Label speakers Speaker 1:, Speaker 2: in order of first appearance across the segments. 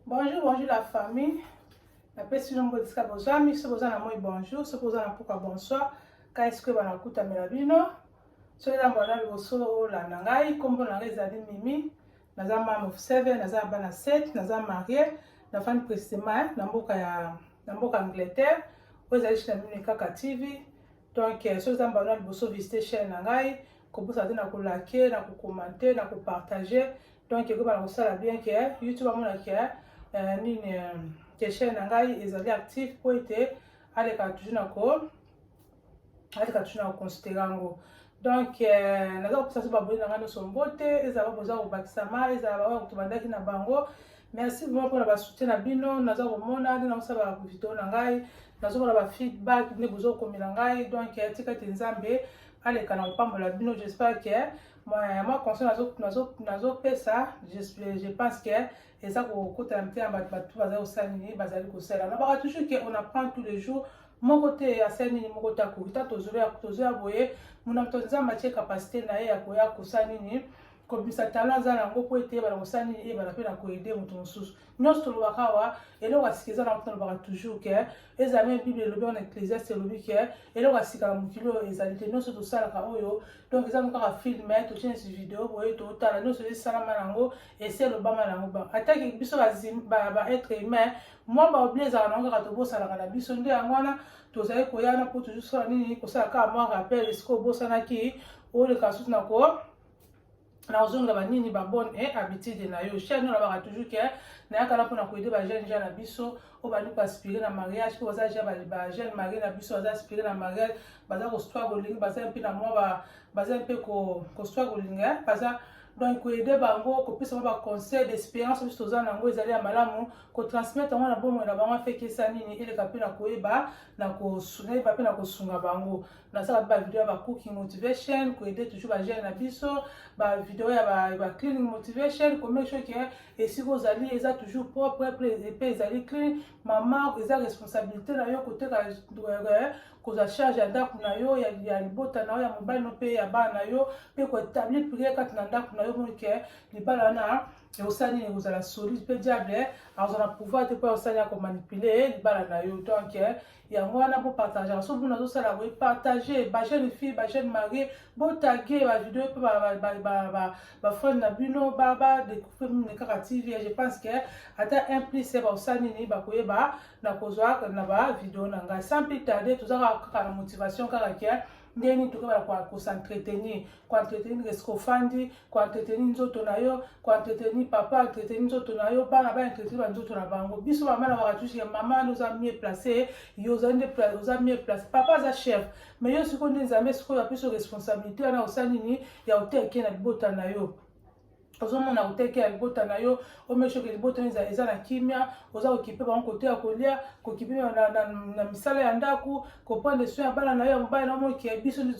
Speaker 1: Bonjour, bonjour la famille. napesi nombo esika bozwami soki oza na moi bonjour soki oza na mpoka bonsoir ka esika oyo banakutamela bino soki eza mbala liboso olanda ngai nkombo na ngai ezali mimi naza mame of seven naza na bana set naza marie nafandi précisément na mboka ya na mboka angleterre oyo ezali china mimi kaka tv donc euh, soki oza mbala na liboso visite chaîne na ngai kobosana te na kolake na kokomante na kopartage donc ekoba na kosala bien ke euh, youtube amona ke euh, nini ke chaîne na ngai ezali active mpo ete aleka toujours na ko aleka toujours na koconsidere yango donc euh, naza kopesa so baboni na ngai nyonso mbote ezala baboza kobakisama ezala baoyo kutu bandaki na bango merci vraiment mpona basoutien na bino naza komona nde nakosala video na ngai nazomona bafeedback nde bozokomela ngai donc euh, tika te nzambe aleka na kopambola bino j'espère que mwa conseil nazopesa je pense que eza kokota na motema bato bato bazali kosala nini bazali kosala nabaka toujours que on apprend tous les jours moko te asali nini moko te akoki ta tozoya tozoya boye mona moto nzambe atie kapasite na ye ya koya kosala nini kobimisa tala aza nango mpo ete yebana kosala nini eyebana mpe na koede moto mosusu nyonso tolobaka awa eloko ya sika eza na moto nalobaka toujours ke ezala meme bible elobi wana ecclesiaste elobi ke eloko ya sika na mokili oyo ezali te nyonso tosalaka oyo donc eza kaka filme totie neti video boye totala nyonso esalama nango esi elobama nango ba atake biso baetre humain mwa baobli ezala nango kaka tobosanaka na biso nde yango wana tozali koya na mpo tozosala nini kosala kaka mwa rappel esika obosanaki oleka susu na ko na kozongela banini babone e eh, habitude na yo chaine oyo olobaka toujours ke nayaka na mpona koyede bajeune jeune na biso oyo bandi koaspire na mariage mpo baza ja bajeune marie na biso baza aspire na mariage baza kostra kolinga baza mpe na mwa baza mpe kostra kolinga eh, baza donc koyede bango kopesa bango baconseil d'expérience biso toza na yango ezali ya malamu kotransmettre yango na bomoi na bango afekesa nini eleka mpe na koyeba na koyeba mpe na kosunga bango nasala mpe bavideo ya bacooking motivation koede toujours bagene na biso bavideo ya bacleaning motivation komake sure ke esika ozali eza toujours propre mpe ezali clean mama eza responsabilité na yo koteka euh, kozwa charge ya ndako na yo ya libota na yo ya mobali no mpe ya bana na yo mpe koetablir priere kati na ndako na yo moke libala wana ekosala nini ekozala solide mpe diable eh, azwa na pouvoir te mpo akosali ya komanipule eh, libala na yo donc eh, yango wana bopartagaka so bino nazosala boye partage bajeune fille bajeune marie botage bavideo mpe bafrande na bino badécouvre mine kaka tv je pense ke ata un plus bakosala nini bakoyeba na kozwa na bavideo na ngai sans plus tarde toza kaka na motivation kaka ke ndenge nini tokobala kosentrtenir koentretenir eske ofandi koentretenir nzoto na yo koentretenir papa entretenir nzoto na yo bana baentretenir banzoto na bango biso mama na wakatushi ya mama wana oza mie place yo oza nde oza mie place papa aza chef mais yo sikoyo nde nzambe sikoyo apesi responsabilité wana osali nini ya oteke na libota na yo ozomona oteke ya libota na yo omeshoke libota eza eza na kimia oza kokipe bango kote ya kolia kokipe na, na, na, na misala ya ndako koprendre soin ya bana na yo ya mobali na moki ya biso nde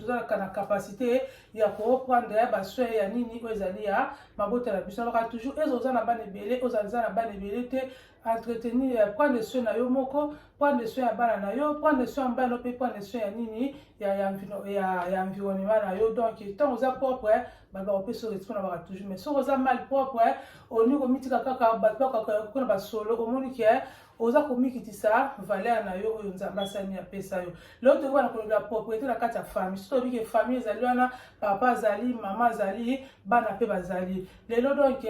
Speaker 1: tozalaka na capacité ya koprendre ya basoin ya nini oyo ezali ya mabota na biso naloka toujours eza oza na bana ebele ozaliza na bana ebele te entretenir ya prendre soin na yo moko prendre soin ya bana na yo prendre soin ya mbala no mpe prendre soin ya nini ya, ya, ya, ya environnement na yo donc ntango oza propre bato bakopesa respect na baka toujours mais soki oza mal propre olingi komitika kaka bato bakakoko na basolo omoni ke oza komikitisa valeur na yo oyo nzambe asani apesa yo leo tokoki bana kolobela propriété na kati ya famille soki toyebi ke famille ezali wana papa azali mama azali bana mpe bazali lelo donc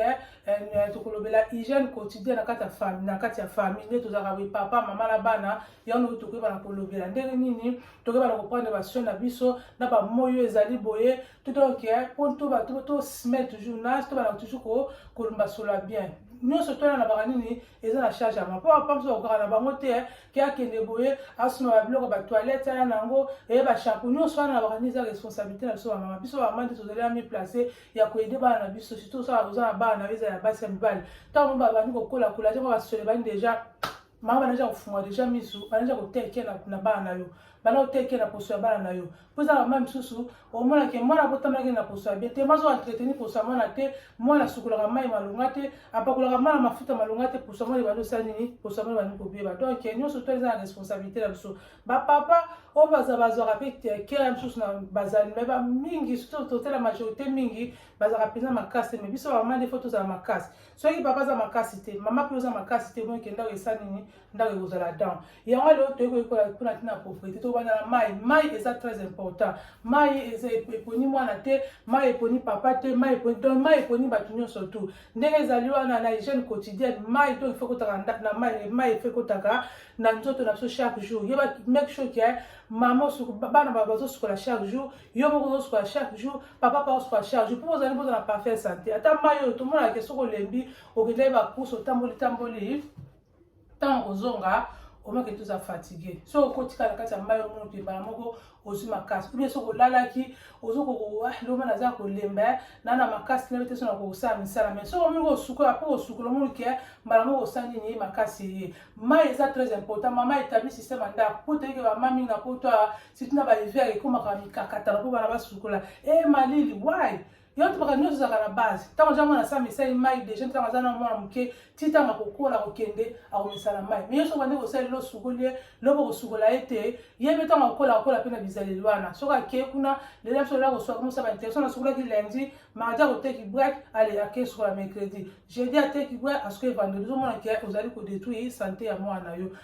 Speaker 1: Eh, tokolobela hygiène quotidien na kati ya famille na kati ya famille nde tozalaka boye papa mama na bana yango tokoyeba na kolobela ndenge nini tokoyeba na koprendre basio na biso na bamoi oyo ezali boye totoke mpo tosme toujours na tobana toujours kolombasola bien nyonso twana na baka nini eza na charge yango mpo papa mosusu bakokaka na bango te eh, ke akende boye asuma babiloko batoilette aya na yango eye eh, bashampo nyonso wana na baka nini eza responsabilité na biso bamama biso bamama nde tozali amiplace ya koyede bana na biso surtout osala oza na bana na yo eza ya basi ya mibali ntango mo babandi kokola kola te mo basole bani deja mama banaja kofunga deja misu banaja kotekela na bana na yo bana kotekela poso ya bana na yo mpo eza bamama misusu omonake mwana abotamaki na poso ya bie te mazo entreteni poso ya mwana te mwana asukolaka mai malonga te apakolaka mwana mafuta malonga te poso ya mwana ebandi osala nini poso ya mwana ebandi kobeba donc nyonso to eza na responsabilité na biso bapapa oyo baza bazwaka mpe kela mosusu na bazali me bamingi totela majorité mingi bazalaka mpenza makasi me biso bamama nde fo tozala makasi soki papa aza makasi te mama mpe oza makasi te omonike ndako esa nini ndako ekozala dan yango lelo toyei koyekola mpona ntina ya propriété tobanda na mai mai eza très important mai eponi mwana te mai eponi papa te mai eponi donc mai eponi bato nyonso tout ndenge ezali wana na hygiène quotidienne mai to efe kotaka na mai mai efe kotaka na nzoto na biso chaque jour yo make sure ke mama bana bazosukola chaque jour yo moko ozosukola chaque jour papa pa osukola chaque jour mpo ozali mpoza na parfait santé ata mai oyo tomonaka ke soki olembi okendaki bakusa otamboli tamboli ntango kozonga omake toza fatigue so okotikala kati ya mai omono mpe mbala moko ozwi makasi oubien soki olalaki ozo kokowa ah, loba naza kolemba eh, na na makasi na bete so na kokosala misala mai soki omoni kosukola mpo kosukola omoni ke mbala moko osala nini ye makasi eye mai eza très important mama etabli système ya ndako mpo toyeke bama mingi na poto awa surtout na bahiver ekomaka mikakatana mpo bana basukola e eh, malili wai yo to baka nyonso ozalaka na base ntango aza mwana sa misali mai deja ntango aza na mwana moke ti ntango akokola kokende akomesana mai me yo soki bande kosali losukoli ye lobo kosukola ye te ye mpe ntango akokola akola mpe na bizaleli wana soki ake kuna lela biso lela kosuka komosa bainterso nasukolaki lundi mardi akoteki brak ale ake sukola mercredi jeudi ateki brak asuki vendredi ozomona ke ozali kodetruire sante ya mwana na yo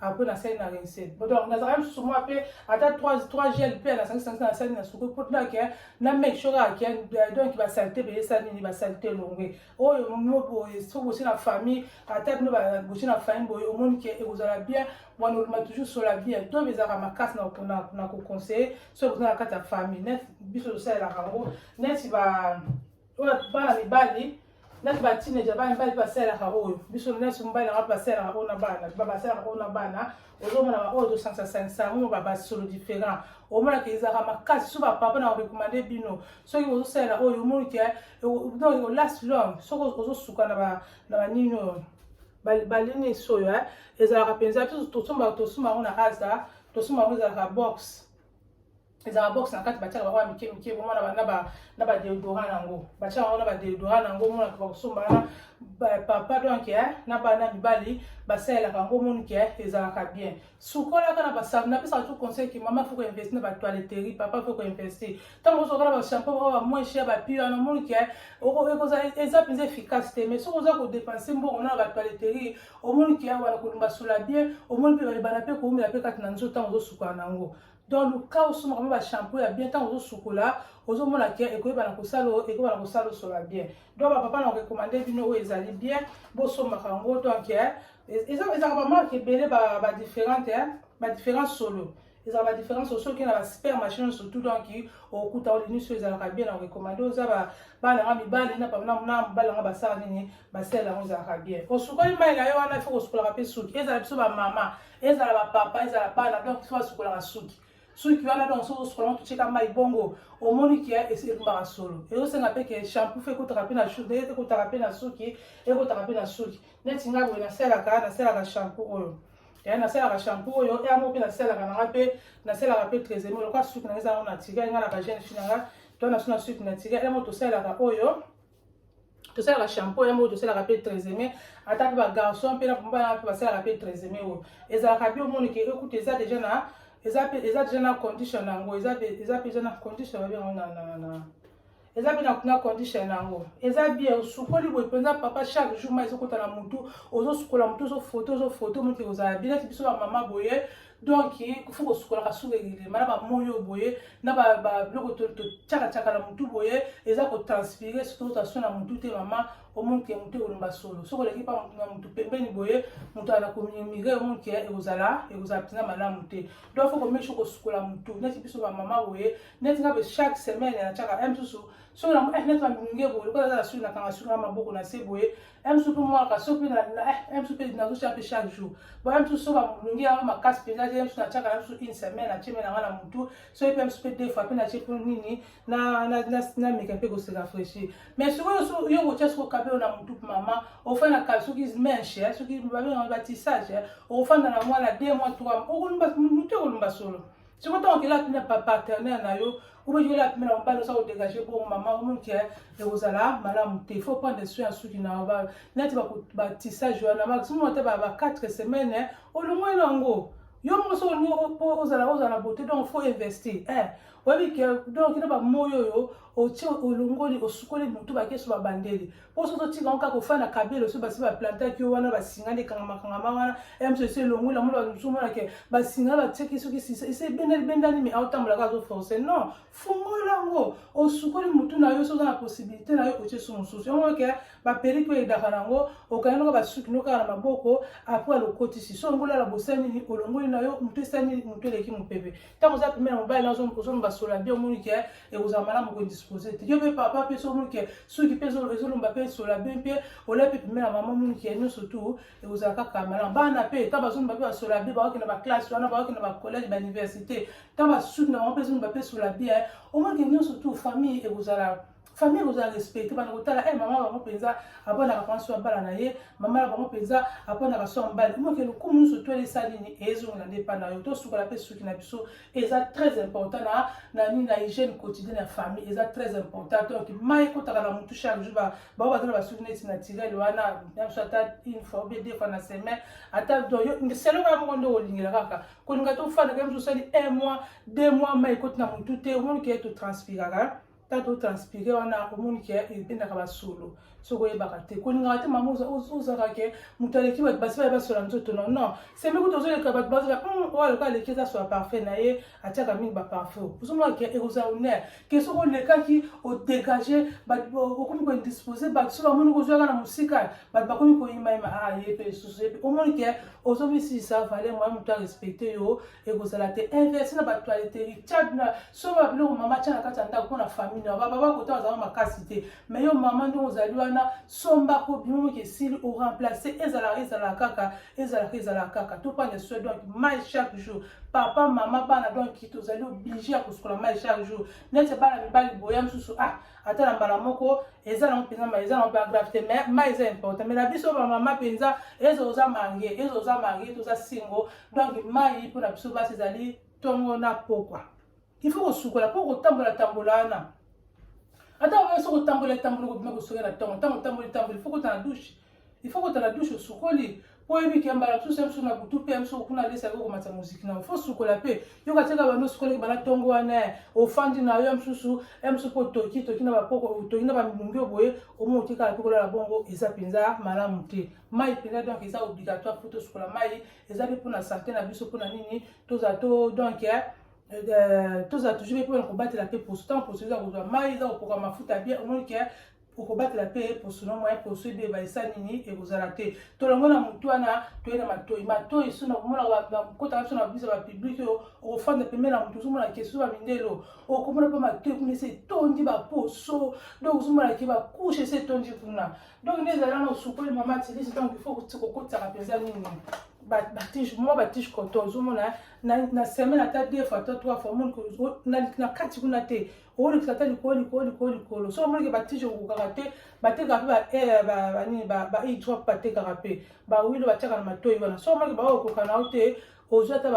Speaker 1: après nasali na rincel donc nazalaka lisusu mwa mpe ata 3 gel mpe nasangisa nasali na suku mpo tunake na make sure ake donc basalite mpe esali nini basalite elongwe oyo mino boye soki bosi na famille ata bino bosi na famille boye omoni ke ekozala bien wana oluma toujours sola bien to ezalaka makasi na koconseille soki boza na kati ya famille neti biso tosalelaka yango neti ba bana mibali nati ba teenager bana mibali mpe basalelaka oyo biso nyonso mobali na ngai basalelaka oyo na bana basalelaka oyo na bana ozomona baoyo tosansasanisa yango ba basolo différent omonaka ezalaka makasi so bapapa na korekomande bino soki ozosalela oyo omoni ke donc olast long soki ozosuka na banini oyo balini esi oyo ezalaka mpenza tosomba tosomba yango na asa tosomba yango ezalaka boxe ezalaka box na kati batiaka bango ya mike mike bongo na badeodora na yango batiaka yango na badeodora na yango omonaka bakosomba wana papa donc eh, na bana mibali basalelaka yango omoni ke eh, ezalaka bien sukolaka na basabu napesaka tu conseil ke mama foko investi na batoiletterie papa foko investi ntango ozoka na bashampo bao bamoin cher bapi wana omoni ke eh, eza mpenza efficace te mais soki oza kodepense mbongo na batoiletterie omoni ke wana kolumba sola bien omoni mpe bana mpe koumela mpe kati na nzoto ntango ozosukana na yango donc luka osomaka mpe bashampo ya bien ntango ozosukola ozomona ke ekoyebana kosala ekobana kosala osola bien donc bapapa na korekomande bino oyo ezali bien bosombaka yango donc eh, ezalaka bamarke ebele badifférente eh, badifférence solo ezalaka badifférence solo soki na basper machine surtout donc okuta olini so ezalaka bien na korekomande oza bana nga mibali na mobali yanga basala nini basala yango ezalaka bien osukoli mai na yo wana ifo kosukolaka mpe suki ezala biso bamama ezala ba papa ezala bana donc so asukolaka suki suki wana donc soki osukolama totyeka mai bongo omoni ke elumbaka solo ezosenga mpe ke shampoo fe ekotaka mpe na ekotaka mpe na suki ekotaka mpe na suki neti ngai boye nasalaka nasalaka shampoo oyo ya nasalaka shampoo oyo yango mpe nasalaka nanga mpe nasalaka mpe tresemi lokola suki nanga ezango naturel ngai na bagene fi nanga to na suna suki naturel yango tosalaka oyo tosalaka shampo yango oyo tosalaka mpe treseme ata mpe bagarçon mpe na bana mpe basalaka mpe treseme oyo ezalaka bi omoni ke ekuta eza deja na eza mpe eza deja na condition na yango eza mpe eza mpe eza na condition babe yango na na na eza mpe na condition na yango eza bien osukoli boye mpenza papa chaque jour ma ezokota na motu ozosukola motu ozofoto ozofoto motu ekozala bien neti biso bamama boye donc kofa kosukolaka suka elema na bamoi oyo boye na babiloko totyakatyaka na motu boye eza kotranspire soki otasio na motu te mama omonke motu ekolomba solo soki oleki mpa na motu pembeni boye motu ana komimire omonke ekozala ekozala mpenza malamu te donc fo komesho kosukola motu neti biso bamama boye neti nga boye chaque semaine natyaka ya mosusu soki neti bamilunge boye lokola eza na suki nakanga suki na maboko na se boye eme soki mwaka soki na eme eh, soki nazotia mpe chaque jour bo eme soki soki bamolongi yango makasi mpenza te eme soki natiaka na biso une semaine natie mpe nanga na motu soki mpe eme soki mpe deux fois mpe natie mpo nini nameka mpe koseka fraîchir mais sikoyo yo kotia soki okabelo na motu mama ofanda kala soki menche eh, soki babengaka batissage eh, okofanda na mwana deux mois trois motu ekolumba solo soki ntango okela apimi na partenaire na yo obeji ola apimi na mobali osa kodegage bongo mama omoke ekozala malamu te faut prendre soin ya suki na yo neti batissage wana maximum ata ba 4 semaine olongoli na yango yo moko soki olingi ozala ozala bote donc faut investir eh, oyebi ke donc kina bamoyi oyo otie olongoli osukoli motu bakesu babandeli mpo soki otika yango kaka ofanda na kabelo soki basi baplantaki yo wana basinga nde ekangamakangama wana mso esi elongwe na mona mosusu omona ke basinga batiaki soki esi ebendani bendani me aotambola kaka azoforce non fungola yango osukoli motu na yo soki oza na possibilité na yo otie su mosusu yango ke baperiki oyo edaka na yango okangi noko basuki no kaka na maboko apres alokotisi so ongola na bosani nini olongoli na yo motu esani motu eleki mopepe ntango oza pembeni ya mobali na ozolomba sola bien omoni ke ekozala malamu kodispose te yo mpe papa mpe so omoni ke suki mpe ezolomba mpe sola bien mpe olia mpe pembeni ya mama omoni ke nyonso tu ekozala kaka malamu bana mpe ntango bazolomba mpe basola bien baoki na baklasse wana baoki na bacollege bauniversité ntango basuki na bango mpe ezolomba mpe sola bien omoni ke nyonso tu famille ekozala famille kozala respecte bana kotala e eh, mama bango mpenza aponaka mpenza so abala na ye mama na bango mpenza aponaka so mbali moke lokumu nyonso to esali nini ezongela nde epai na yo tosukola mpe suki na biso eza très important na na nini na hygiène quotidienne ya famille eza très important donc mai ekotaka na motu chaque jour bango bazala basuki neti naturel wana biso ata une fois obie deux fois na semaine ata donc selo kaka moko nde olingela kaka kolinga tofanda kaka biso osali un mois deux mois mai ekoti na motu te omoni keye totranspiraka ta to transpire wana omoni ke ebendaka basolo soki oyebaka te kolingaka te mama ozaka ke moto aleki bato basi baye basola nzoto no non sembe kutu ozoleka bato bazola hmm, oyo aloka aleki eza sola parfum na ye atiaka mingi baparfum ozomona ke ekozala honneur ke soki olekaki odegage okomi koindispose bato soki bamoni kozwaka na mosika bato bakomi koyimayima a ah, ye mpe lisusu ye mpe omoni ke ozomisilisa valeur moya moto arespecte yo ekozala te inverse na bactualité richard na soba biloko mama atya na kati ya ndako mpona famille na baba bakota bazala makasi te mai yo mama ndenge ozali wana sombako bino moki esili oremplace ezalaka ezalaka kaka ezalaka ezalaka kaka topanda soi donc mai chaque jour papa mama bana donc tozali oblige ya kosukola mai chaque jour neti bana mibali boya mosusu ah ata na mbala moko eza nango mpenza mai eza nango bagrave te mai mai eza important mai na biso bamama mpenza eza oza mange eza oza mange toza singo donc mai mpo na biso basi ezali ntongo na pokwa ifo kosukola mpo kotambola tambola wana ata oyo soki otambola etambola okobima kosoka na ntongo ntango otamboli tamboli ifo kota na dushe ifo kota na dushe osukoli mpo oyebi ke mbala mosusu ya mosusu na butu mpe ya mosusu kuna alesa yako komatisa moziki na ofo sukola mpe yoka tika bando osukolaki bana ntongo wana ofandi na yo ya mosusu ya mosusu mpo otoki toki na bapoko otoki na bamilungi oboye omo otikala mpe kolala bongo eza mpenza malamu te mai mpenza donc eza obligatoire mpo tosukola mai eza mpe mpona sante na biso mpona nini tozala to donc eh, eh, tozala toujours mpe mpona kobatela mpe poso ntango poso eza kozwa mai eza kopoka mafuta bien omoni ke eh, okobatela mpe poso na moye poso ebeba esa nini ekozala te tolongo na motu wana toye na matoi matoi so na komona kotaka biso na biso ya bapublike oyo okofanda pembe na motu ozomona ke soso bamindelo okomona mpe matoi kuna esi etondi baposo donc ozomona ke bakushe esi etondi kuna donc nde ezali wana osukoli mama tilisi donc il faut kokotisaka mpenza nini batige mwa batige koto ozomona na semaine ata deux fois to trois fois omoni na kati kuna te olekisa ata likolo likolo likolo likolo so omonike batige kokokaka te batekaka mpe eh, banini baidrop batekaka mpe bawilo batiaka na matoi wana so omonike baoyo okoka na yo te ozwi ata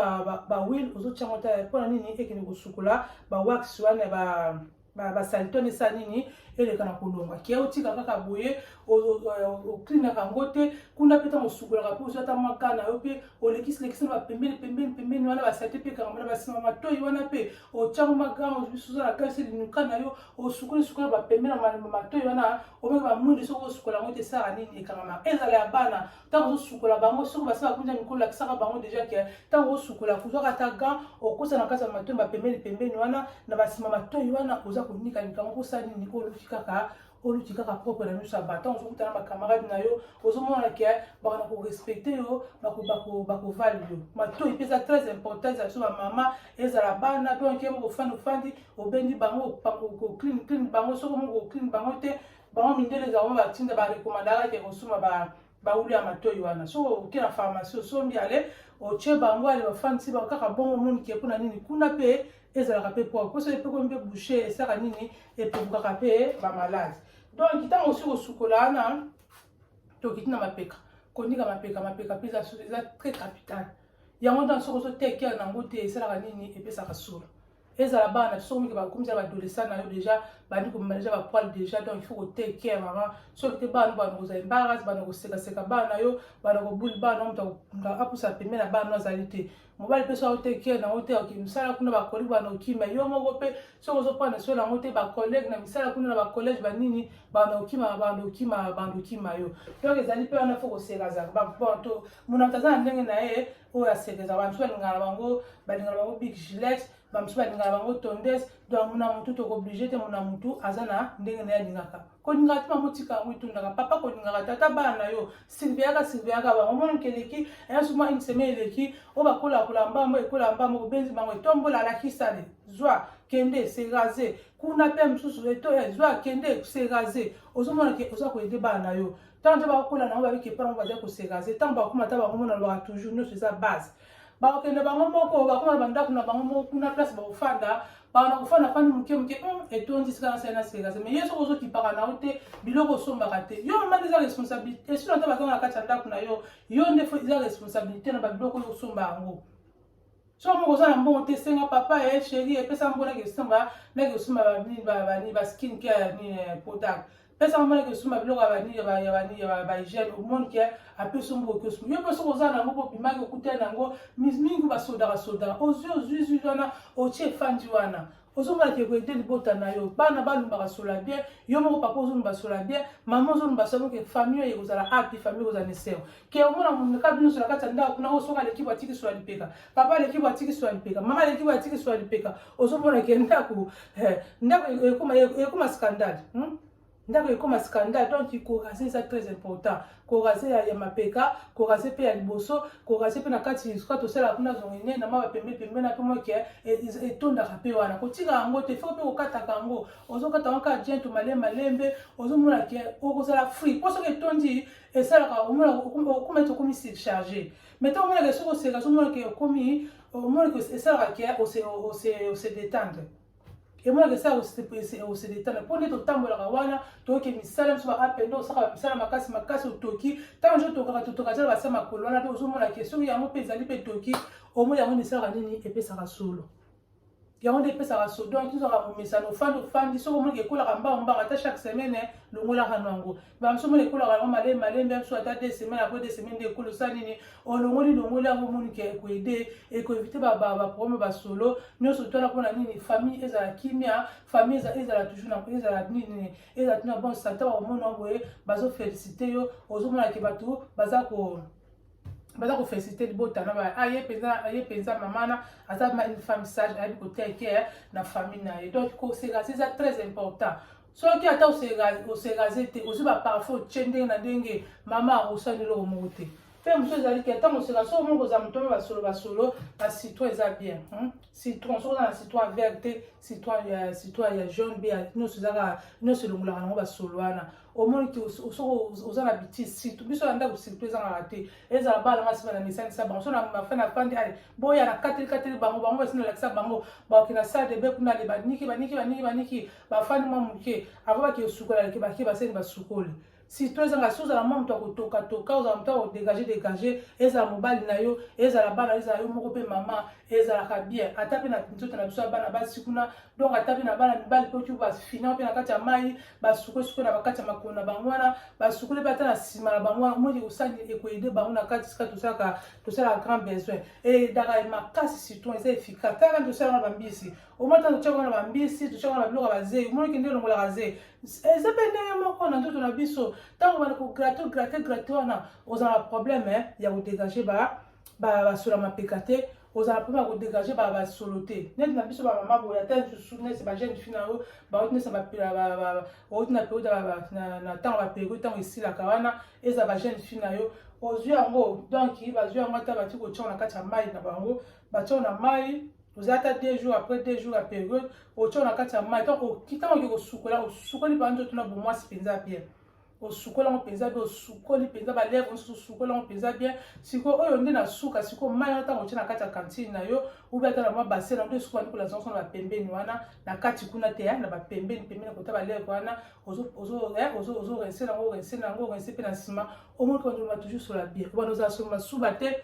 Speaker 1: bawile ozotyango ata mpo na nini ekende kosukola bawax wana ya ba basalite wana esala nini eleka na kolonga kia otika kaka boye oklinaka yango te kuna mpe ntango osukolaka mpe ozwa ata maka na yo mpe olekisilekisi na bapembeni pembeni pembeni wana basalite mpe ekangama na basima matoi wana mpe otyango maga biso oza na kasi linuka na yo osukoli sukola bapembe na matoi wana omeka bamwindi soki osukola yango te esala nini ekangamaka ezala ya bana ntango ozosukola bango soki basi bakunza mikolo lakisaka bango deja ke ntango osukola kozwaka ata ga okosa na kati ya matoi ba pembeni pembeni wana na basima matoi wana oza konika likambo kosala nini oluki kaka oluti kaka propre na miso ya bato ntango ozokutana na bacamarade na yo ozomona ke bakona korespecte yo bakovali yo matoi mpe eza très important ezala biso bamama ezala bana donk ye moko ofandi ofandi obendi bango clean clean bango soko moko clean bango te bango mindele eza bango batinda barekomandaka ke kosomba ba bawuli ya matoi wana so oke na pharmacie osombi ale otye bango ale bafandisi bango kaka bongo omoni ke mpo na nini kuna mpe ezalaka mpe poa mposo epekomi mpe bouche esaka nini epekukaka mpe bamaladi donc ntango osi kosukola wana tokiti na mapeka kondika mapeka mapeka mpe eza très capital yango ntango soki ozoteke yango te esalaka nini epesaka solo ezala bana na biso komike bakomi za baadolescent na yo déjà bandi komema déjà bapoile déjà donc il faut kotake care mama soki te bana bana kozala embarras bana kosekaseka bana na yo bana kobuli bana moto apusa pembe na bana azali te mobali mpe soki otake care nango te oke misala kuna bakolege bana okima yo moko mpe soki ozopana soki nango te bakolege na misala kuna na bakolege banini bana okima bana okima bana okima yo donc ezali mpe wana fo kosekazaka bato mona moto aza na ndenge na ye oyo asekeza bamosusu balingaka na bango balingaka na bango big gilet bamosusu balingaka na bango tondes donc mona motu tokoblige te mona motu aza na ndenge na ye alingaka kolingaka te bango tika yango etundaka papa kolingaka te ata bana na yo silviaka silviaka bango mwana moke eleki yanso mwa une semaine eleki oyo bakolakola mbambo ekola mbambo obenzi bango etombola alakisale zwa kende se rase kuna mpe mosusu eto eh, zwa kende se rase ozomona ke oza koyede bana na yo ntango nde bakokola nango babiki epai yango bazali koserase ntango bakoma ata bango mona lobaka toujours nyonso eza base bakokende bango moko bakoma na bandako na bango moko kuna place bakofanda bana kofanda fandi moke moke hmm, etondi esika na sali na serase mais yo soki ozokipaka na yo te biloko osombaka te yo mama nde eza responsabilité esino ata bazanga na kati ya ndako na yo yo nde eza responsabilité na babiloko oyo osomba yango soki moko oza na mbongo te senga papa e eh, sheri epesa mbo nake kosomba nake kosomba banini baskin ke ya nini eh, potable pesa mbo nake kosomba biloko ya banini ya banini ya bahygiène omoni ke apesa mbo oke osomba yo mpe soki oza na yango mpo opimaki okutani na yango mingi basodaka sodaka ozwi ozwi zwi wana otie efandi wana ozomona ke koyede libota na yo bana balumbaka sola bien yo moko papa ozolumba sola bien mama ozolumba sola ke famille oyo ekozala api famille ekozala na eseo ke omona moneka bino sola kati ya ndako kuna oyo soki aleki bwatiki sola lipeka papa aleki bwatiki sola lipeka mama aleki bwatiki sola lipeka ozomona ke ndako eh, ndako ekoma scandale hmm? ndako ekoma scandale donc korase eza très important korase ya, ya mapeka korase mpe ya liboso korase mpe na kati esika tosalaka kuna zongene na maba pembe pembe na mpe moke e, etondaka mpe wana kotika yango te fo mpe kokataka yango ozokata yango kaka jento male malembe ozomona ke okozala free mpo soki etondi esalaka okoma ete okomi surcharge mais ntango omonaka soki oseka ozomona ke okomi omonaka esalaka ke ose detendre emonaka esa ya koseletala mpo nde totambolaka wana toyoki misala biso baapende osalaka misala makasi makasi otoki ntango nso tokaka totoka zala basa makolo wana mpe ozomona ke soki yango mpe ezali mpe toki omoi yango misalaka nini epesaka solo yango nde epesaka so donc tozalaka komesana ofandi ofandi soki omoniki ekolaka mbango mbango ata chaque semaine longolaka no yango banso mona ekolaka yango malembe malembe biso ata de semaine apres de semaine nde ekolo sa nini olongoli longoli yango omoni ke ekoede ekoevite baproblème basolo nyonso twana mpona nini famille ezala kimia famille ezala toujours ezala nini ezala tuna bon santa bakomona boye bazofélicite yo ozomona ke bato baza ko baza kofélicite libota na baye aye mpenza aye mpenza mama na aza une femme sage ayebi koteke na famille na ye donc kosekasi eza très important soki ata oseraze te ozwi baparfum otye ndenge na ndenge mama akosala eloko moko te mpe mosusu ezali ke ntango oseka soko moko oza moto mpe basolo basolo na citron eza bien hmm? citron soki oza na citron vert te citron ya citron ya jaune mpe nyonso ezaka nyonso elongolaka nango basolo wana omoni te soki oza na bitise situ biso na ndako situ ezangaka te ezala bana basi bana mesanisa bango so na mafe na fandi ale boya na kateli kateli bango bango basi nalakisa bango baoke na sale de be kuna ale baniki baniki baniki baniki bafandi mwa moke ava bake esukola leke bake baseni basukoli surtout ezanga si ozala mwa moto ya kotokatoka ozala moto ya kodegage degage ezala mobali na yo ezala bana ezala yo moko mpe mama ezalaka bien ata mpe na nzoto na biso ya bana basi kuna donc ata mpe na bana mibali mpe oki bafina mpe na kati ya mai basukosuko na bakati ya makolo na bango wana basukoli mpe ata na nsima na bango wana moi ekosali ekoyede bango na kati sika tosalaka tosalaka grand besoin edaka makasi citron eza efficace kaka nde tosalaka na bambisi omata totyaka wana bambisi totyaka wana biloko ya bazei omonaki nde olongolaka zei eza mpe ndenge moko na nzoto na biso ntango bana kograte ograte grate wana ozala na probleme eh, ya kodegage basola mapeka te ozala mpo na kodegage basolo te neti na biso bamama boye ata lisusu neti bajeune fi na yo bauti neti outi na periode na ntango baperiode ntango esilaka wana eza bajeune fi na yo ozwi yango donk bazwi yango ata bati kotyango na kati ya mai na bango batyango na mai oza ata deux jours après deux jours ya periode otya na kati ya mai ntango oke kosukola osukoli mpenza nzoto na bomwasi mpenza bien osukoli yango mpenza bien osukoli mpenza balèvre mosusu osukoli yango mpenza bien sikoyo oyo nde na suka sikoyo mai wana ntango otya na kati ya kantine na yo ubi ata na mwa base na nde suka nikola zonso na bapembeni wana na kati kuna te na bapembeni pembeni kota balèvre wana ozorense nango orense nango orense mpe na nsima omoni kondima toujours sola bien wana ozala soloma suba te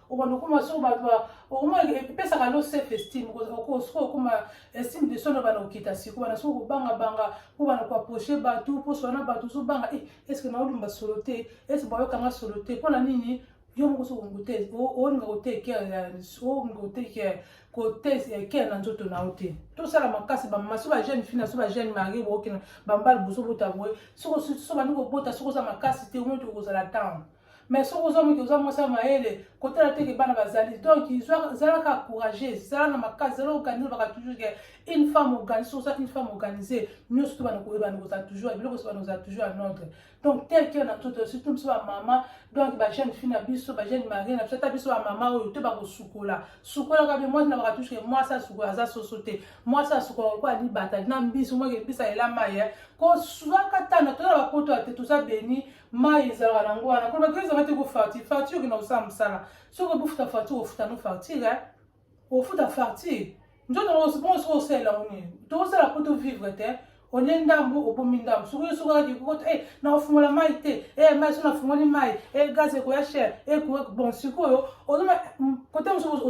Speaker 1: obanda okoma so bato okoma epesaka lo self estime soki okoma estime de soi nobana kokita siko wana soki okobangabanga mpo bana koaproche bato mposo wana bato ozobanga e eh, estce naolumba solo te estce bayokanga solo te mpo na nini yo moko soki okute olinga kotekea olinga kotekea kotekea na nzoto na yo te tosala makasi bamama so bajeune fina so bajeune marie bookina bambala bosobota boye soki obandi kobota soki oza makasi te omoi tokozala ntango mais soki oza moki oza mwasi ya mayele kotala teke bana bazali donc zalaka courageuse zala na makasi zala organise baka toujours ke une femme organise oza une femme organisée nyonso to bana koyebana koza toujours biloko so bana koza toujours en ordre donc tel que na toto surtout biso bamama donc bajeune fille na biso bajeune marie na biso ata biso bamama oyo to bakosukola sukolaka be mwasi na baka toujours ke mwasi asukola aza soso te mwasi asukola lokola libata na mbisi omweke mbisi alela mai eh. kozwaka tana toza bapoto ya te toza beni mai ezalaka nango wana mpo bato ezalaka te kofartire fartire okenda kosala mosala soki obufuta fartire ofuta no fartire eh? ofuta fartire nzoto bongo soki osalela ngo nini tozala mpo tovivre te olie ndambu obomi ndambu soki yo soki okaki kokota e nakofungola mai te e mai soki nafungoli mai e gaz ekoya cher e bon sikoyo ozoma kote mosusu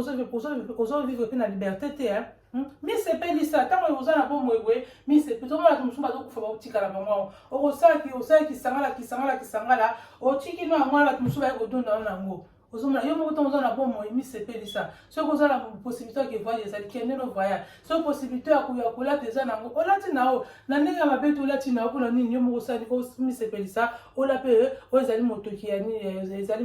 Speaker 1: ozovivre mpe na liberté te eh? Hmm? misepelisa ntango oza na bomoi boye misepelisa omona bato mosusu bazokufa bakotikala bango yango okosalaki osalaki kisangala kisangala kisangala otiki no yango wana bato mosusu baye kodonda wana yango ozomona yo moko ntango oza na bomoi misepelisa soki oza na possibilité ya kevoyage ezali kende no voyage soki possibilité ya kolata eza na yango olati na yo na ndenge ya mabe te olati na yo mpona nini yo moko osali omisepelisa ola mpe oyo ezali motoki ya nini ezali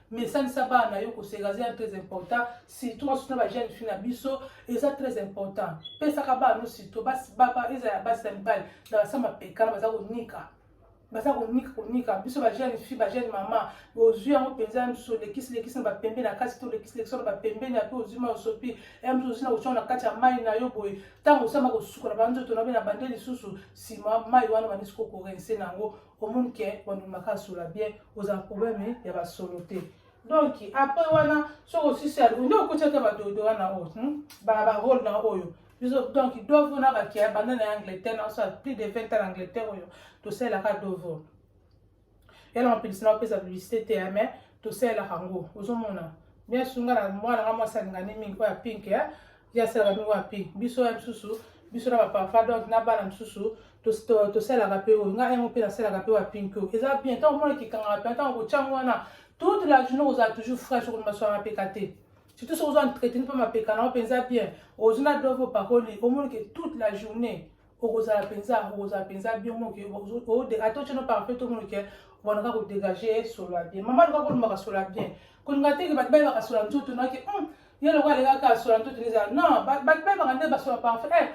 Speaker 1: mais esalisa bana na yo koseka eza ya très important surtout basusu na bajeune fille na biso eza très important pesaka bana no surtout eza ya basi na mibali na basama pekana baza konika baza konika konika biso bajeune fille bajeune mama ozwi yango mpenza mso lekisi lekisi na bapembe na kati to lekisi lekisi na bapembe na mpe ozwi ma osopi mso ozwi na kotya na kati ya mai na yo boye ntango osama kosukola banzoto na yo na bande lisusu nsima mai wana banisi kokorense na yango omoni ke ondimaka asola bien oza na probleme ya basolo te donc après wana soki osisi alingi nde okoti ata badodo wana oyo hmm? barole na oyo biso donc dovo na bakia banda na angleterre na osala plus de 20 ans na angleterre oyo tosalelaka dovo yala mapelisi na opesa publicité te mais tosalelaka yango ozomona bien sunga na mwana nga mwasi alingani mingi oyo ya pink ye asalaka mpe wapi biso ya misusu biso na bapapa donc na bana mosusu tosalaka mpe oyo ngai yango mpe nasalaka mpe wapinki oyo eza bien ntango omona kikangaka mpe ntango kotyango wana toute la journée ozala toujours fraîche okoni maswala mapeka te surtout soki ozo entreteni mpe mapeka nango mpenza bien ozwi na dove opakoli omoni ke toute la journée okozala mpenza okozala mpenza bien moke ata otye no parfait to monoke obandaka kodégage solo ya bien mama alukaka olobaka solo ya bien kolinga teke bato bayebaka solo ya nzoto noke hmm, ye loko alekaka solo ya nzoto ezala non bato bayebaka nde basolo ya parfait eh,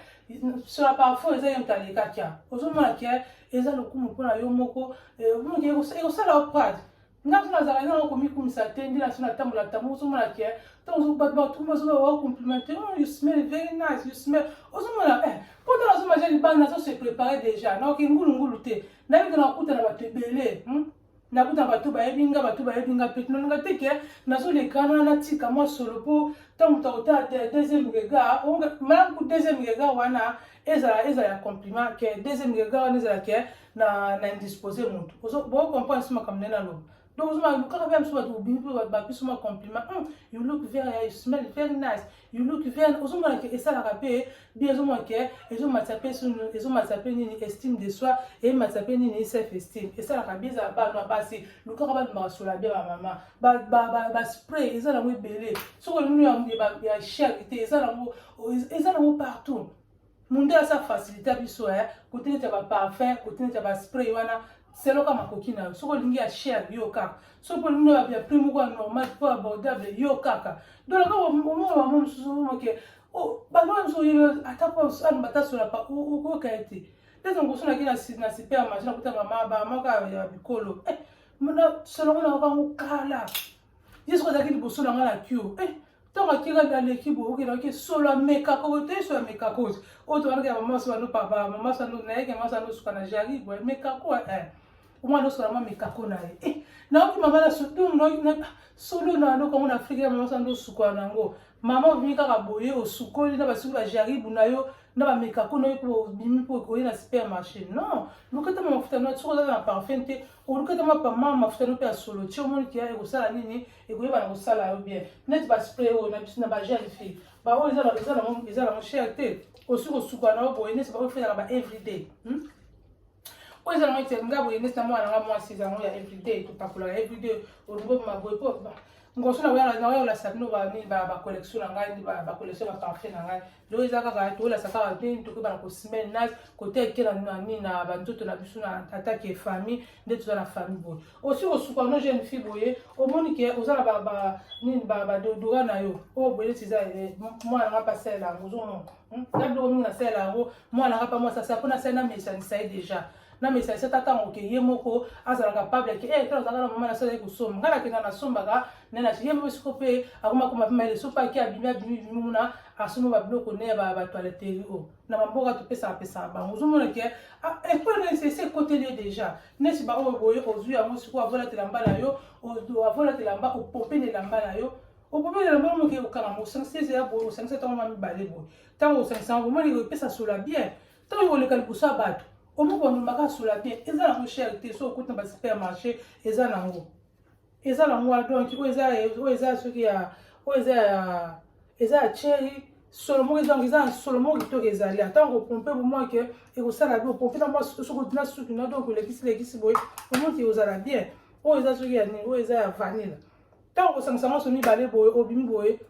Speaker 1: solo ya parfum eza ye moto alekaki ozomona ke eza lokumu mpo na yo moko eh, ekosala yo prade nga so nazala nde nao komikumisa te nde naso natambola tambo ozomona ke ntango bato batumba ozoba wa complimente oh, you smell very nice you smell ozomona eh mpo ntango nazomaja libanda nazo se prépare déjà naoke ngulungulu te nayebi ke nakokuta na bato ebele hmm? nakuta bato bayebi nga bato bayebi nga mpe nalinga te ke nazolekana natika mwa solo mpo ntango moto akotala deuxième regard malamu ku deuxième regard wana ezala ezala ya compliment ke deuxième regard wana ezala ke na na indispose mutu ozo bo comprendre sima comme nena lo donc ozo ma kaka bien sima tu bini ba ba sima compliment hum you look very you smell very nice you look very ozo mona ke esala ka pe bien ozo mona ke ezo matsa pe sunu ezo matsa pe nini estime de soi et matsa pe nini self esteem esala ka bien za ba no ba si lu kaka ba ma sola bien ba mama ba ba ba, ba spray ezala mo ebele soko nunu ya ya charité ezala mo ezala mo partout Mundele asa facilita biso eh kote neti ya ba parfum kote neti ya ba spray wana selo kaka makoki na yo soki olingi ya cher yo kaka soki olingi na ya prix moko ya normal po abordable yo kaka donc kaka omona bango mosusu moke bango mosusu oyeba ata po aloba ata sola pa okoyoka ye te ntango mosusu naki na supermarché nakuta mama bamama kaka ya bikolo eh, solo ngo nayoka yango kala yesu azalaki liboso na ngai na kio eh, ntango atikaki aleki boye okendaki solo ya mekakoko te so ya mekakoti oyo toalaki ya mamasi bano papa mamasi bano nayeke mamasi bano suka na jari boye mekako eh. omwana osola mwa mekako na ye eh, nayoki mama na solo na yango kango na afrika ya mamasi bano osuka na yango mama obimi kaka boye osukoli na basukoli ya jaribu na yo na bamekako na yo mpo obimi mpo oye na supermarché non lukata ma mafuta na soki ozala na parfum te olukata mapama mafuta no mpe ya solo ti omoni kia ekosala nini ekoyeba na kosala yo bien neti baspray oyo na biso na bagel fille baoyo eza nango eza nango cher te osi kosuka na yo boye neti baoyo fetaka ba everyday hmm? oyo eza nango ete nga boye neti na mwana nga mwasi eza nango ya everyday topakolaka everyday olingo maboye po ngoso nakoyaka nakoyaka la sabino banini bacollection na ngai bacollection baparfum na ngai donc eza kaka tolasa kaka te tokeba na kosemaine nage kote eke na nani na banzoto na biso na attaque ya famille nde toza na famille boye osi kosuka no jeune fille boye omoni ke oza na nini badodora na yo oyo oh, boye neti eza eh, mwana nga mpe asalela yango ozomona hmm? na biloko mingi nasalela yango mwana nga mpe mwasi asala mpo nasalela na mesanisa ye déjà na mesalisa ata ntango ke ye moko azala capable ke eh, tala ozalaka na mama na sala ye kosomba ngai nakenda nasombaka nde na ye moko siko mpe akoma koma mpe mayele soki aki abimi abimi bimi muna asomba babiloko ne ya batoileteri o oh. na bamboka topesaka pesaka bango ozomona ke ah, ekole na ese ekoteli ye déjà neti baoyo oh, boye ozwi yango siko avolatela mba na yo avolatela mba opompe na elamba na yo opompe na elamba yo moke okanga mosangisa ezela boye osangisa ntango ma mibale boye ntango osangisa yango omoni epesa sola bien ntango oleka liboso ya bato omoko bamemaka sola te eza nango chere te so okuti na basupermarché eza nango eza nango wana donk oyo eza soki ya oyo eza ya eza ya cheri solo moko ezango eza na solo moko kitoko ezali ntango opompe bomoi ke ekosala bi opompe na mwa soki na suki na donk olekisi lekisi boye omoki ozala bien oyo eza soki ya nini oyo eza ya vanille ntango kosangisa nyonso mibale boye obimi boye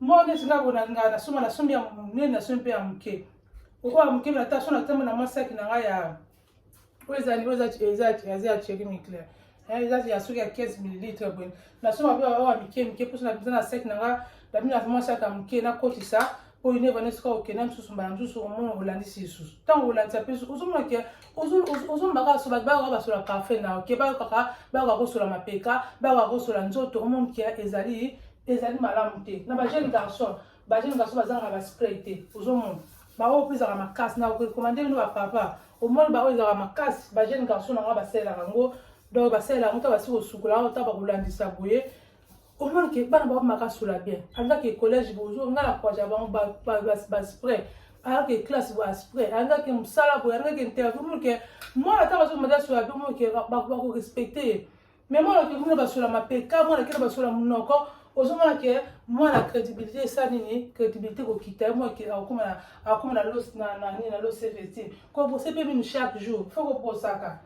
Speaker 1: Mwa neti nga bona nga nasomba nasombi ya monene nasombi mpe ya moke oyo ya moke na taso natambo na masaki na ngai ya oyo ezali oyo eza ya cheri miclair eza ya soki ya 15 millilitre boye nasomba mpe oyo ya mike mike mposo naza na saki na ngai babina mwa saki ya moke nakotisa oyo neva nde soki okenda mosusu mbala mosusu omona olandisi lisusu ntango olandisa mpe ozomona ke ozoloba kaka so bato bayoka basola parfum na oke bayokaka bayoka kosola mapeka bayoka kosola nzoto omoni kia ezali ezali malamu te na bajeune garçon bajeune garçon bazangaka baspray te ozomona baoyo mpe ezalaka makasi na okorekomande bino bapapa omoni baoyo ezalaka makasi bajeune garçon na yango basalelaka yango donc basalelaka yango ta basi kosukola yango ta bakolandisa boye omona ke bana bango makasula bien alingaka ke collège bozo nga na kwaja bango baspray alingaka ke classe bo aspray alingaka ke mosala boye alingaka ke interview mona ke mwana ata bazomata sola pe mona ke bakorespecte ye mais mwana ke mona basola mapeka mwana kena basola monoko ozomona ke mwana crédibilité esa nini crédibilité kokita ye mwana akokoma na loseveti kobose pe minu chaque jour fo koposaka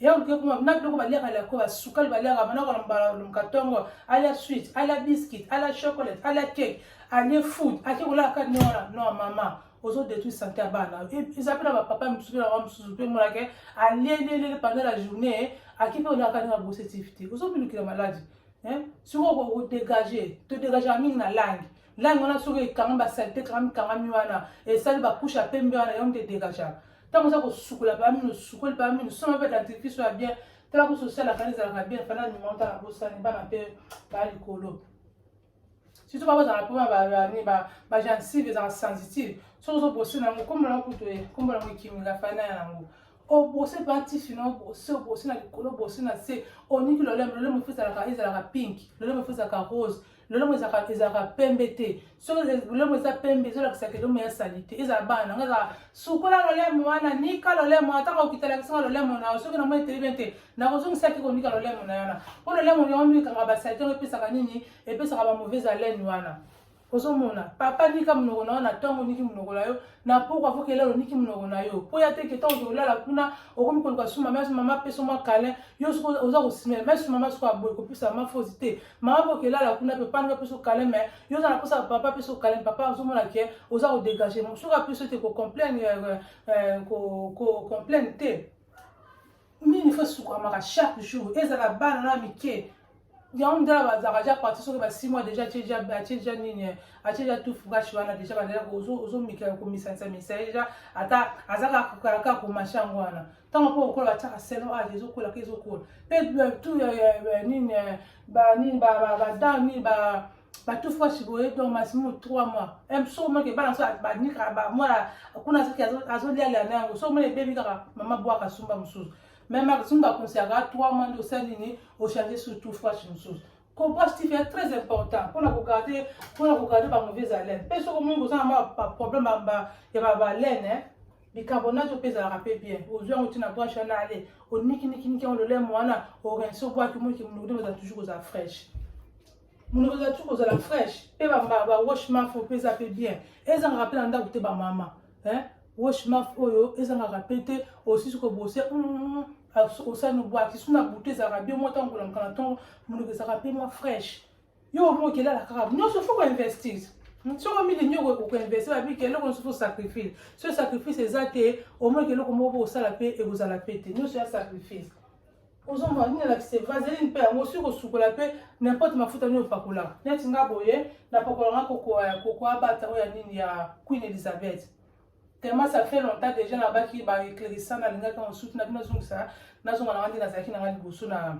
Speaker 1: yango ke kuma na biloko baliaka lya koba sukali baliaka manakola mbalumka tongo alia swit alia biscuit alia chocolate alia cake alie food ake kolaka kati nde wana no mama ozo détruire santé ya bana eza mpe na bapapa mosusu mpe na ba mosusu mpe monake alielielele pendant la journée ake mpe olaka kati na bosetif te ozobilukila maladi sikoyo kodégage todégagaka mingi na langue langi wana soki ekanga basalite kangami kangami wana esali bakushe ya pembe wana yango nde degaja ntango oza kosukola paa mino osukoli paa mino soma mpe dentifrice ya bien tala kusu osalaka nde ezalaka bien fana ndima otala bosani bana mpe baa likolo surtout baa bazala mpo bagencive ezalaka sensitive soki ozobose na yango kombola yango kutu kombola yango ekimika fana yango obose mpe atifi na obose obose na likolo obose na se oniki lolemo lolemo efesalaka ezalaka pink lolemo efesalaka rose lolemo ezalaka ezalaka pembe te soki lolemo eza pembe ezolakisaka elemo ya sali te ezala bana nango ezalaka sukola lolemo wana nika lolemo ata kokitalakisinga lolemo na yo soki na moi eteli bien te nakozongisaki konika lolemo na yana mpo lolemo yango mikanga basali te yango epesaka nini epesaka bamauvaise haleine wana ozomona papa nika monoko na yo na ntongo niki monoko na yo na poko afo kelelo niki monoko na yo mpo ya te ke ntango okolala kuna okomi koluka suma mama peso mwa kalin yo soki oza kosimela mai sumama soki aboye kopesa mama fosi te mama boke elala kuna pe panda apesa okale me yo oza na mposa ya papa apesa okale me papa azomona ke oza kodegage mo soki apesa te kocomplaine euh, euh, kocomplaine te nini fo esukamaka chaque jour ezala bana na mike yango ndala bazalaka ja parti soki basix mois déjà atie ja nini atie ja tout fougache wana déjà bazalaka ozomikaka komisanisa misa ye ja ata azalaka kaka komasha yango wana ntango mpo okola batiaka seno age ah, ezokola ke ezokola mpe batu nini banini badao nini batufu ya chiboye donc maximum 3 mois so omaki bana so banikaka bamwana kuna soki azolialia na yango so omoni ebebi kaka mama bwaka sumba mosusu meme maximum bakonseyaka 3 mois nde osali nini ochange surtout fwashi mosusu Comprends Steve est très important pour la regarder, pour la regarder par mauvaise haleine. Parce que moi, vous avez un problème bamba, il y a ma haleine, hein. bicarbonate opezalaka mpe bien ozwi yango ntina branche wana ale onikiniki yango lolemo wana orense obwaki moki monoko nde ozala toujours kozala fraîche monoko ozala toujours kozala fraîche mpe bawashmaf opeza mpe bien ezangaka mpe na ndako te bamama eh wash maf oyo ezangaka pe te osisi kobose mm, mm, mm, osani obwaki so na butu ezalaka bio mwa ntango kolamuka na ntongo monoko ezalaka mpe mwa fresh yo omoki elala kaka nyonso fo koinvestir soko mili nyoko okoinvestir babiki eloko nyonso fo sacrifice so sacrifice eza te omoki eloko moko osala mpe ekozala mpe te nyonso ya sacrifice ozomona nini alakise vaseline mpe yango soki kosukola mpe nimporte mafuta nini opakola neti nga boye napakola nga kokoa ya koko abata oyo ya nini ya queen elizabeth tellement ça fait longtemps déjà nabaki ba éclairissant nalingaki yango sutu na bino azongisa nazonga na nga nde nazalaki na nga liboso na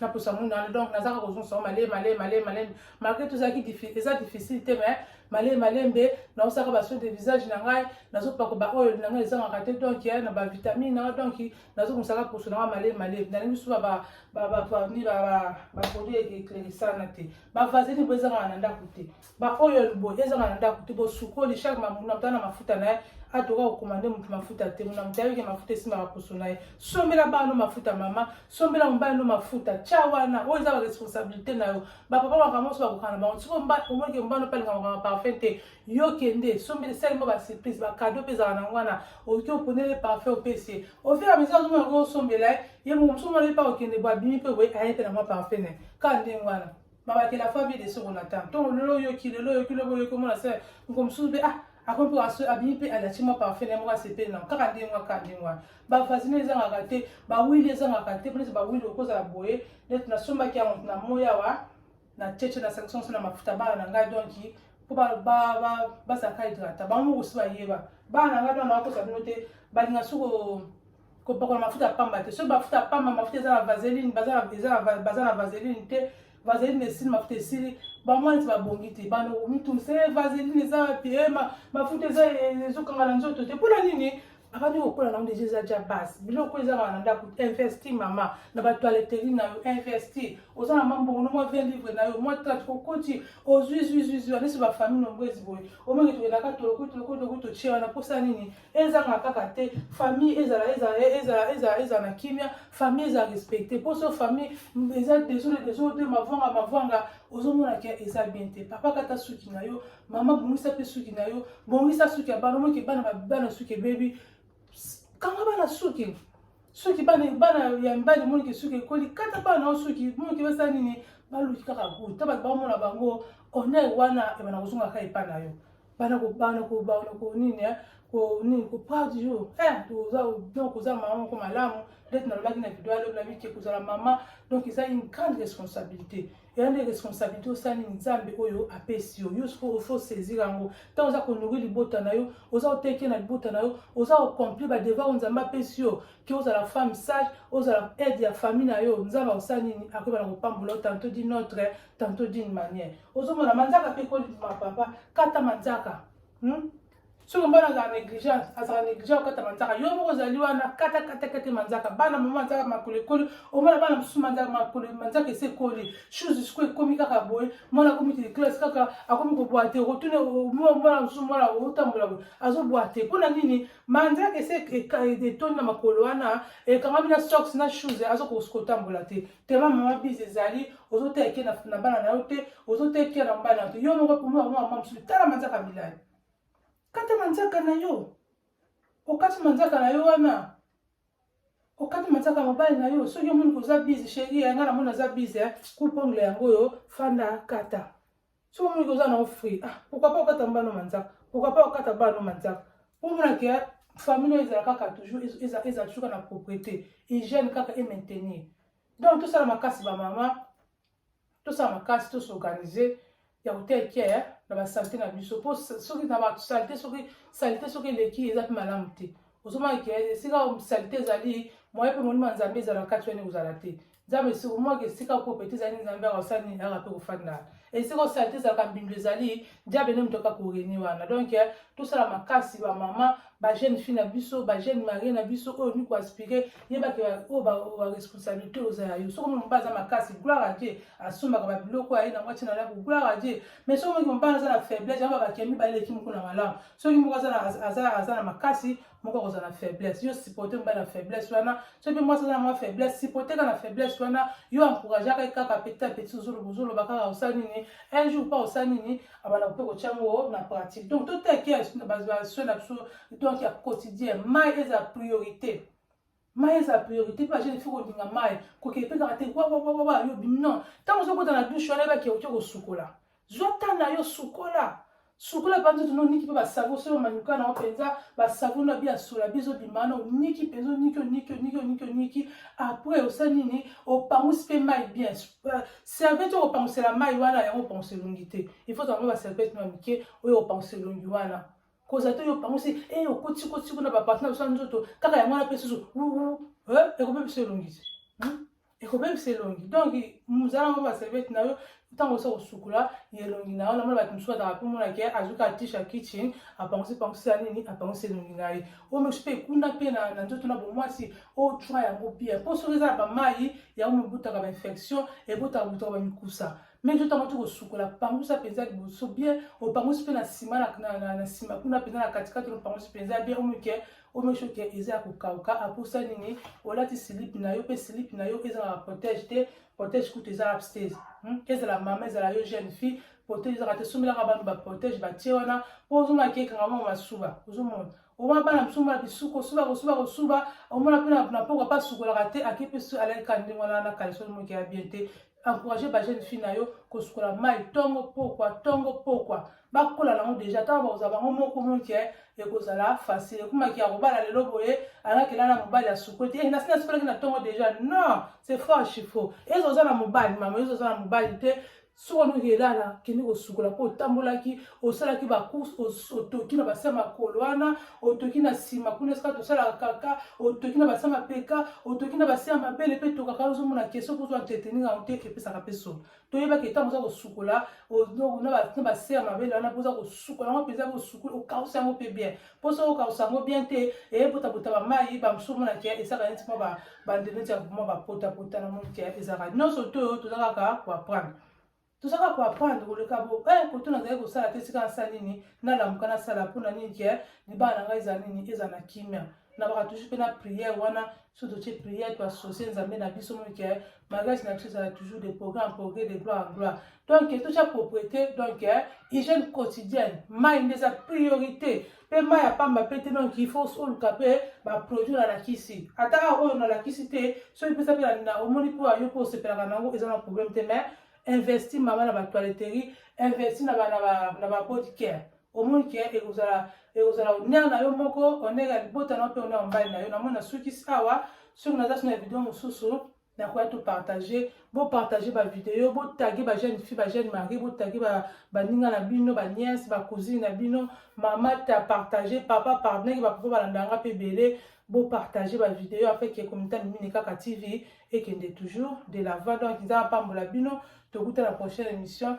Speaker 1: na posa munda wana donc nazaka kozongisa yango malemi malemi malemi malemi malgré tozalaki eza difficile te mais malemi malembe naosaka baso de visage na ngai nazopako baoyo na ngai ezangaka te donc na bavitamine na ngai donc nazo musala poso na male male na ngi suba ba ba ba ba ni ba ba ba produit et clerissana te ba vazini bo ezanga na ndaku te ba oil bo ezanga na ndaku te bo sukoli chaque ma muna tana mafuta na atoka kokomande moto mafuta te mona moto ayebike mafuta esimbaka poso na ye sombela bana mafuta mama sombela mobali no mafuta tya wana oyo eza baresponsabilité na yo bapapa makambo nyonso bakokana bango siko omonike mobali mpe alingaka makambo parfum te yo kende sombeli sali mpo basurprise bakado mpe ezala nango wana oki oponele parfum opesi ye ofira misa azomona ko osombela ye ye moko mosusu mwana epa okende bo abimi mpe boye aye mpe na mwa parfum ne kaka ndenge wana mabakela fa vie de soko na temps ntongo lelo oyoki lelo oyoki lobo oyoki omona se moko mosusu mpe ah akomi mpe aso abimi mpe alati mwa parfum yango asepeli nango kaka ndenge wana kaka ndenge wana bavasine ezangaka te bawili ezangaka te mpo neti bawili okozala boye neti nasombaki yango na moi awa na cheche na sanction so na mafuta bana na ngai donc mpo bazalaka hydrata bango moko si bayeba bana na ngai bana bakosa bino te balinga so kopakola mafuta pamba te soki mafuta pamba mafuta eza na vaseline baza na vaseline te vaseline esili mafuta esili bamwa neti babongi te banomitungisa e eh, vaseline eza wapi e eh, mafuta eza eh, ezokanga na nzoto te mpona nini abandi kokola nango deja eza ja base biloko eza kaka na ndako investi mama na batoileteri na yo investi oza na mambongo no mwa 20 livre na yo mwa 30 okoti ozwi zwizuizwi anisi bafamille nombo ezi boye omenge tokendaka tolokotolokotoloko totie wana mposa nini ezanga kaka te famille ezala ezala ezala ezala ezala na kimia famille eza respecte mposo famille eza desole desole mpe mavwanga mavwanga ozomona ke eza bien te papa kata suki na yo mama bongisa mpe suki na yo bongisa suki ya bana omoki bana babana suki ebebi kanga bana suki soki bana ya mibali monike soki ekoli kata bana nao soki monike basala nini baluki kaka gout ta bato bamona bango honneur wana ebana kozonga kaka epai na yo bana kobana kobana konini eh, konini kopart jour eh, donc oza mama moko malamu ndeti nalobaki na video alobi na mike kozala mama donc eza une grande responsabilité eza nde responsabilité osala nini nzambe oyo apesi yo yo sikoyo ofi osaisir yango ntango oza konourri libota na yo oza koteke na libota na yo oza kocompli badevoir oyo nzambe apesi yo ke ozala femme sage ozala aide ya famille na yo nzambe akosala nini akoyeba na kopambola yo tanto di notre tanto dine manière ozomona manzaka mpe kolima papa kata manzaka hmm? soki mobali azala negligence azala negligent kokata manzaka yo moko ozali wana kata kata kata manzaka bana mama manzaka makolo ekoli omona bana mosusu manzaka makolo manzaka esi ekoli chose siko ekomi kaka boye mwana akomi te classe kaka akomi kobwa te okotuna mwana mosusu mwana otambola boye azobwa te mpo na nini manzaka esi etondi na makolo wana ekangami na sox na chose aza kotambola te tema mama bize ezali ozoteke na bana na yo te ozoteke na bana na yo te yo moko mwana mama mosusu tala manzaka milai kata manzaka na yo okati manzaka na yo wana okati manzaka mobali na yo soki omoni koza bize sheri ya ngai namoni aza bize eh. kupongle yango oyo fanda kata soki omoni koza na ofri ah, pourkoi pas okata mbano manzaka pourkoi pas okata bano manzaka omonake eh, famille oyo ezala kaka toujours ezala toujours kaka na propriété hygiène kaka e maintenir donc tosala makasi bamama tosala makasi to s'organiser ya kotia ekiaya na basalite na biso mpo soki na basalite soki salite soki eleki eza mpe malamu te ozomona ke esika salite ezali moye mpe molimo ya nzambe ezala kati wani kozala te nzambe esika omwaka esika kopete ezali nzambe akosala nini aka mpe kofanda esika osalite ezalaka mbindo ezali nzambe nde moto aka koreni wana donk tosala makasi bamama ba jeune fille na biso ba jeune marie na biso oyo olingi koaspire yebake oyo baresponsabilité oza ya yo soki omoni mobali aza makasi gloire a dieu asombaka babiloko aye nango atina lako gloire a dieu mais soki omoki mobali aza na faiblesse yango babakee mibale eleki moko na malamu soki moko aza na makasi moko akozala na faiblesse yo supporte mobali na faiblesse wana soki mpe mwasi aza na mwa faiblesse supporte kaka na faiblesse wana yo encourageaka ye kaka petit a petit ozoloba kaka osali nini un jour mpa osali nini abanda mpe kotya yango na pratique donc toteke basoi na biso donc ya quotidien mai eza priorité mai eza priorité mpe bajeune fi kolinga mai kokende mpe kaka te wawawawa yo bimi non ntango ozokota na dushe wana yebaki oke kosukola zwa ta na yo sukola sukola mpe nzoto noniki mpe basavo soki omanyuka na yo mpenza basavo na bi ya sola bizobima na oniki mpenza oniki oniki oniki oniki oniki apres osali nini opangusi mpe mai bien euh, serviette oyo kopangusela mai wana yango opangusa elongi te il faut zango baserviette na mike oyo opangusa elongi wana koza te oyo opangusi e eh, okotikoti kuna baparti na biso ya nzoto kaka yango wana mpe susu eh, ekobebisa elongi te hmm? ekobebisa elongi donc mozala yango baserviette na yo ntango osa kosukola elongi na yo namona bato mosusu bataka mpe monake azuki atisha kitchen apangusi pangusi ya nini apangusi elongi na ye oyo mosusu mpe kuna mpe na nzoto na bomwasi otswa yango bien mpo soki eza na bamai yango mibutaka bainfection ebotaka butaka bamikusa me nzoto yango ti kosukola pangusa mpenza liboso bien opangusi mpe na nsima na nsima kuna mpenza na katikati opangusi mpenza bien omike omesho ke eza ya kokauka aposa nini olati silipi na yo mpe silipi na yo ezala na protège te protège kutu eza abstase hmm? ezala mama ezala yo jeune fille protège ezaka te sombelaka bantu baprotège batie wana mpo ozomaki ekanga mwa masuba ozomona omona bana biso mona bisuko suba kosuba kosuba omona mpe na poko apa asukolaka te ake mpe so alaki kande wana na kalisoni moke ya bien te encourage ba jeune fille na yo kosukola mai ntongo pokwa ntongo pokwa bakola nango deja ntango bakozala bango moko moke eh, ekozala facile ekumaki ya kobala lelo boye alaki elala mobali asukwe te eh, nasi nasukolaki na ntongo deja non c'est faux chiffo ezo oza na mobali mama ezo oza na mobali te soki wana oyelala kende kosukola mpo otambolaki osalaki bacourse otoki na base ya makolo wana otoki na nsima kuna esika tosalaka kaka otoki na base ya mapeka otoki na base ya mabele mpe tokaka ozomona ke soki ozwa entretenir yango te epesaka mpe solo toyebaki ntango oza kosukola na base ya mabele wana mpo oza kosukola yango mpenza osukoli okausi yango mpe bien mposo oyoka sango bien te eyepotabuta bamai bamosusu omona ke ezaka neti mwa bande neti ya mwa bapotapota na moni ke ezaka nyonso to oyo toza kaka koaprendre toza kaka koaprendre koleka bo e eh, koto nazali kosala te esika nasala nini nalamuka nasala mpo na nini ke libala na ngai ezala nini ezala na kimia nabaka toujours mpe na priere wana so totie prière to associe nzambe na biso moke mariage na biso ezala toujours de progrès en progrès de gloire en gloire donc totya propriété donc hygiène quotidienne mai nde eza priorité mpe mai ya pamba mpe te donc il faut oluka mpe baproduit nalakisi ata awa oyo nalakisi te soki mpesa mpe na omoni mpo ayo mpo osepelaka na yango eza na problème te mais investi mama na batoiletterie investi na babody care omoni ke ekozala ekozala honneur na yo moko honneur ya libota na yo mpe honneur ya mobali na yo namoni nasukisi awa soki naza so na video mosusu nakoya to partage bopartage bavideo botage bajeune fille bajeune mari botage baninga na bino baniese bacousine na bino mama ta partage papa pardonaki bapapa balanda yanga mpe ebele bopartage bavideo afeke komita mimini kaka tv ekende toujours de lava donc nzambe apambola bino tokuta na prochaine émission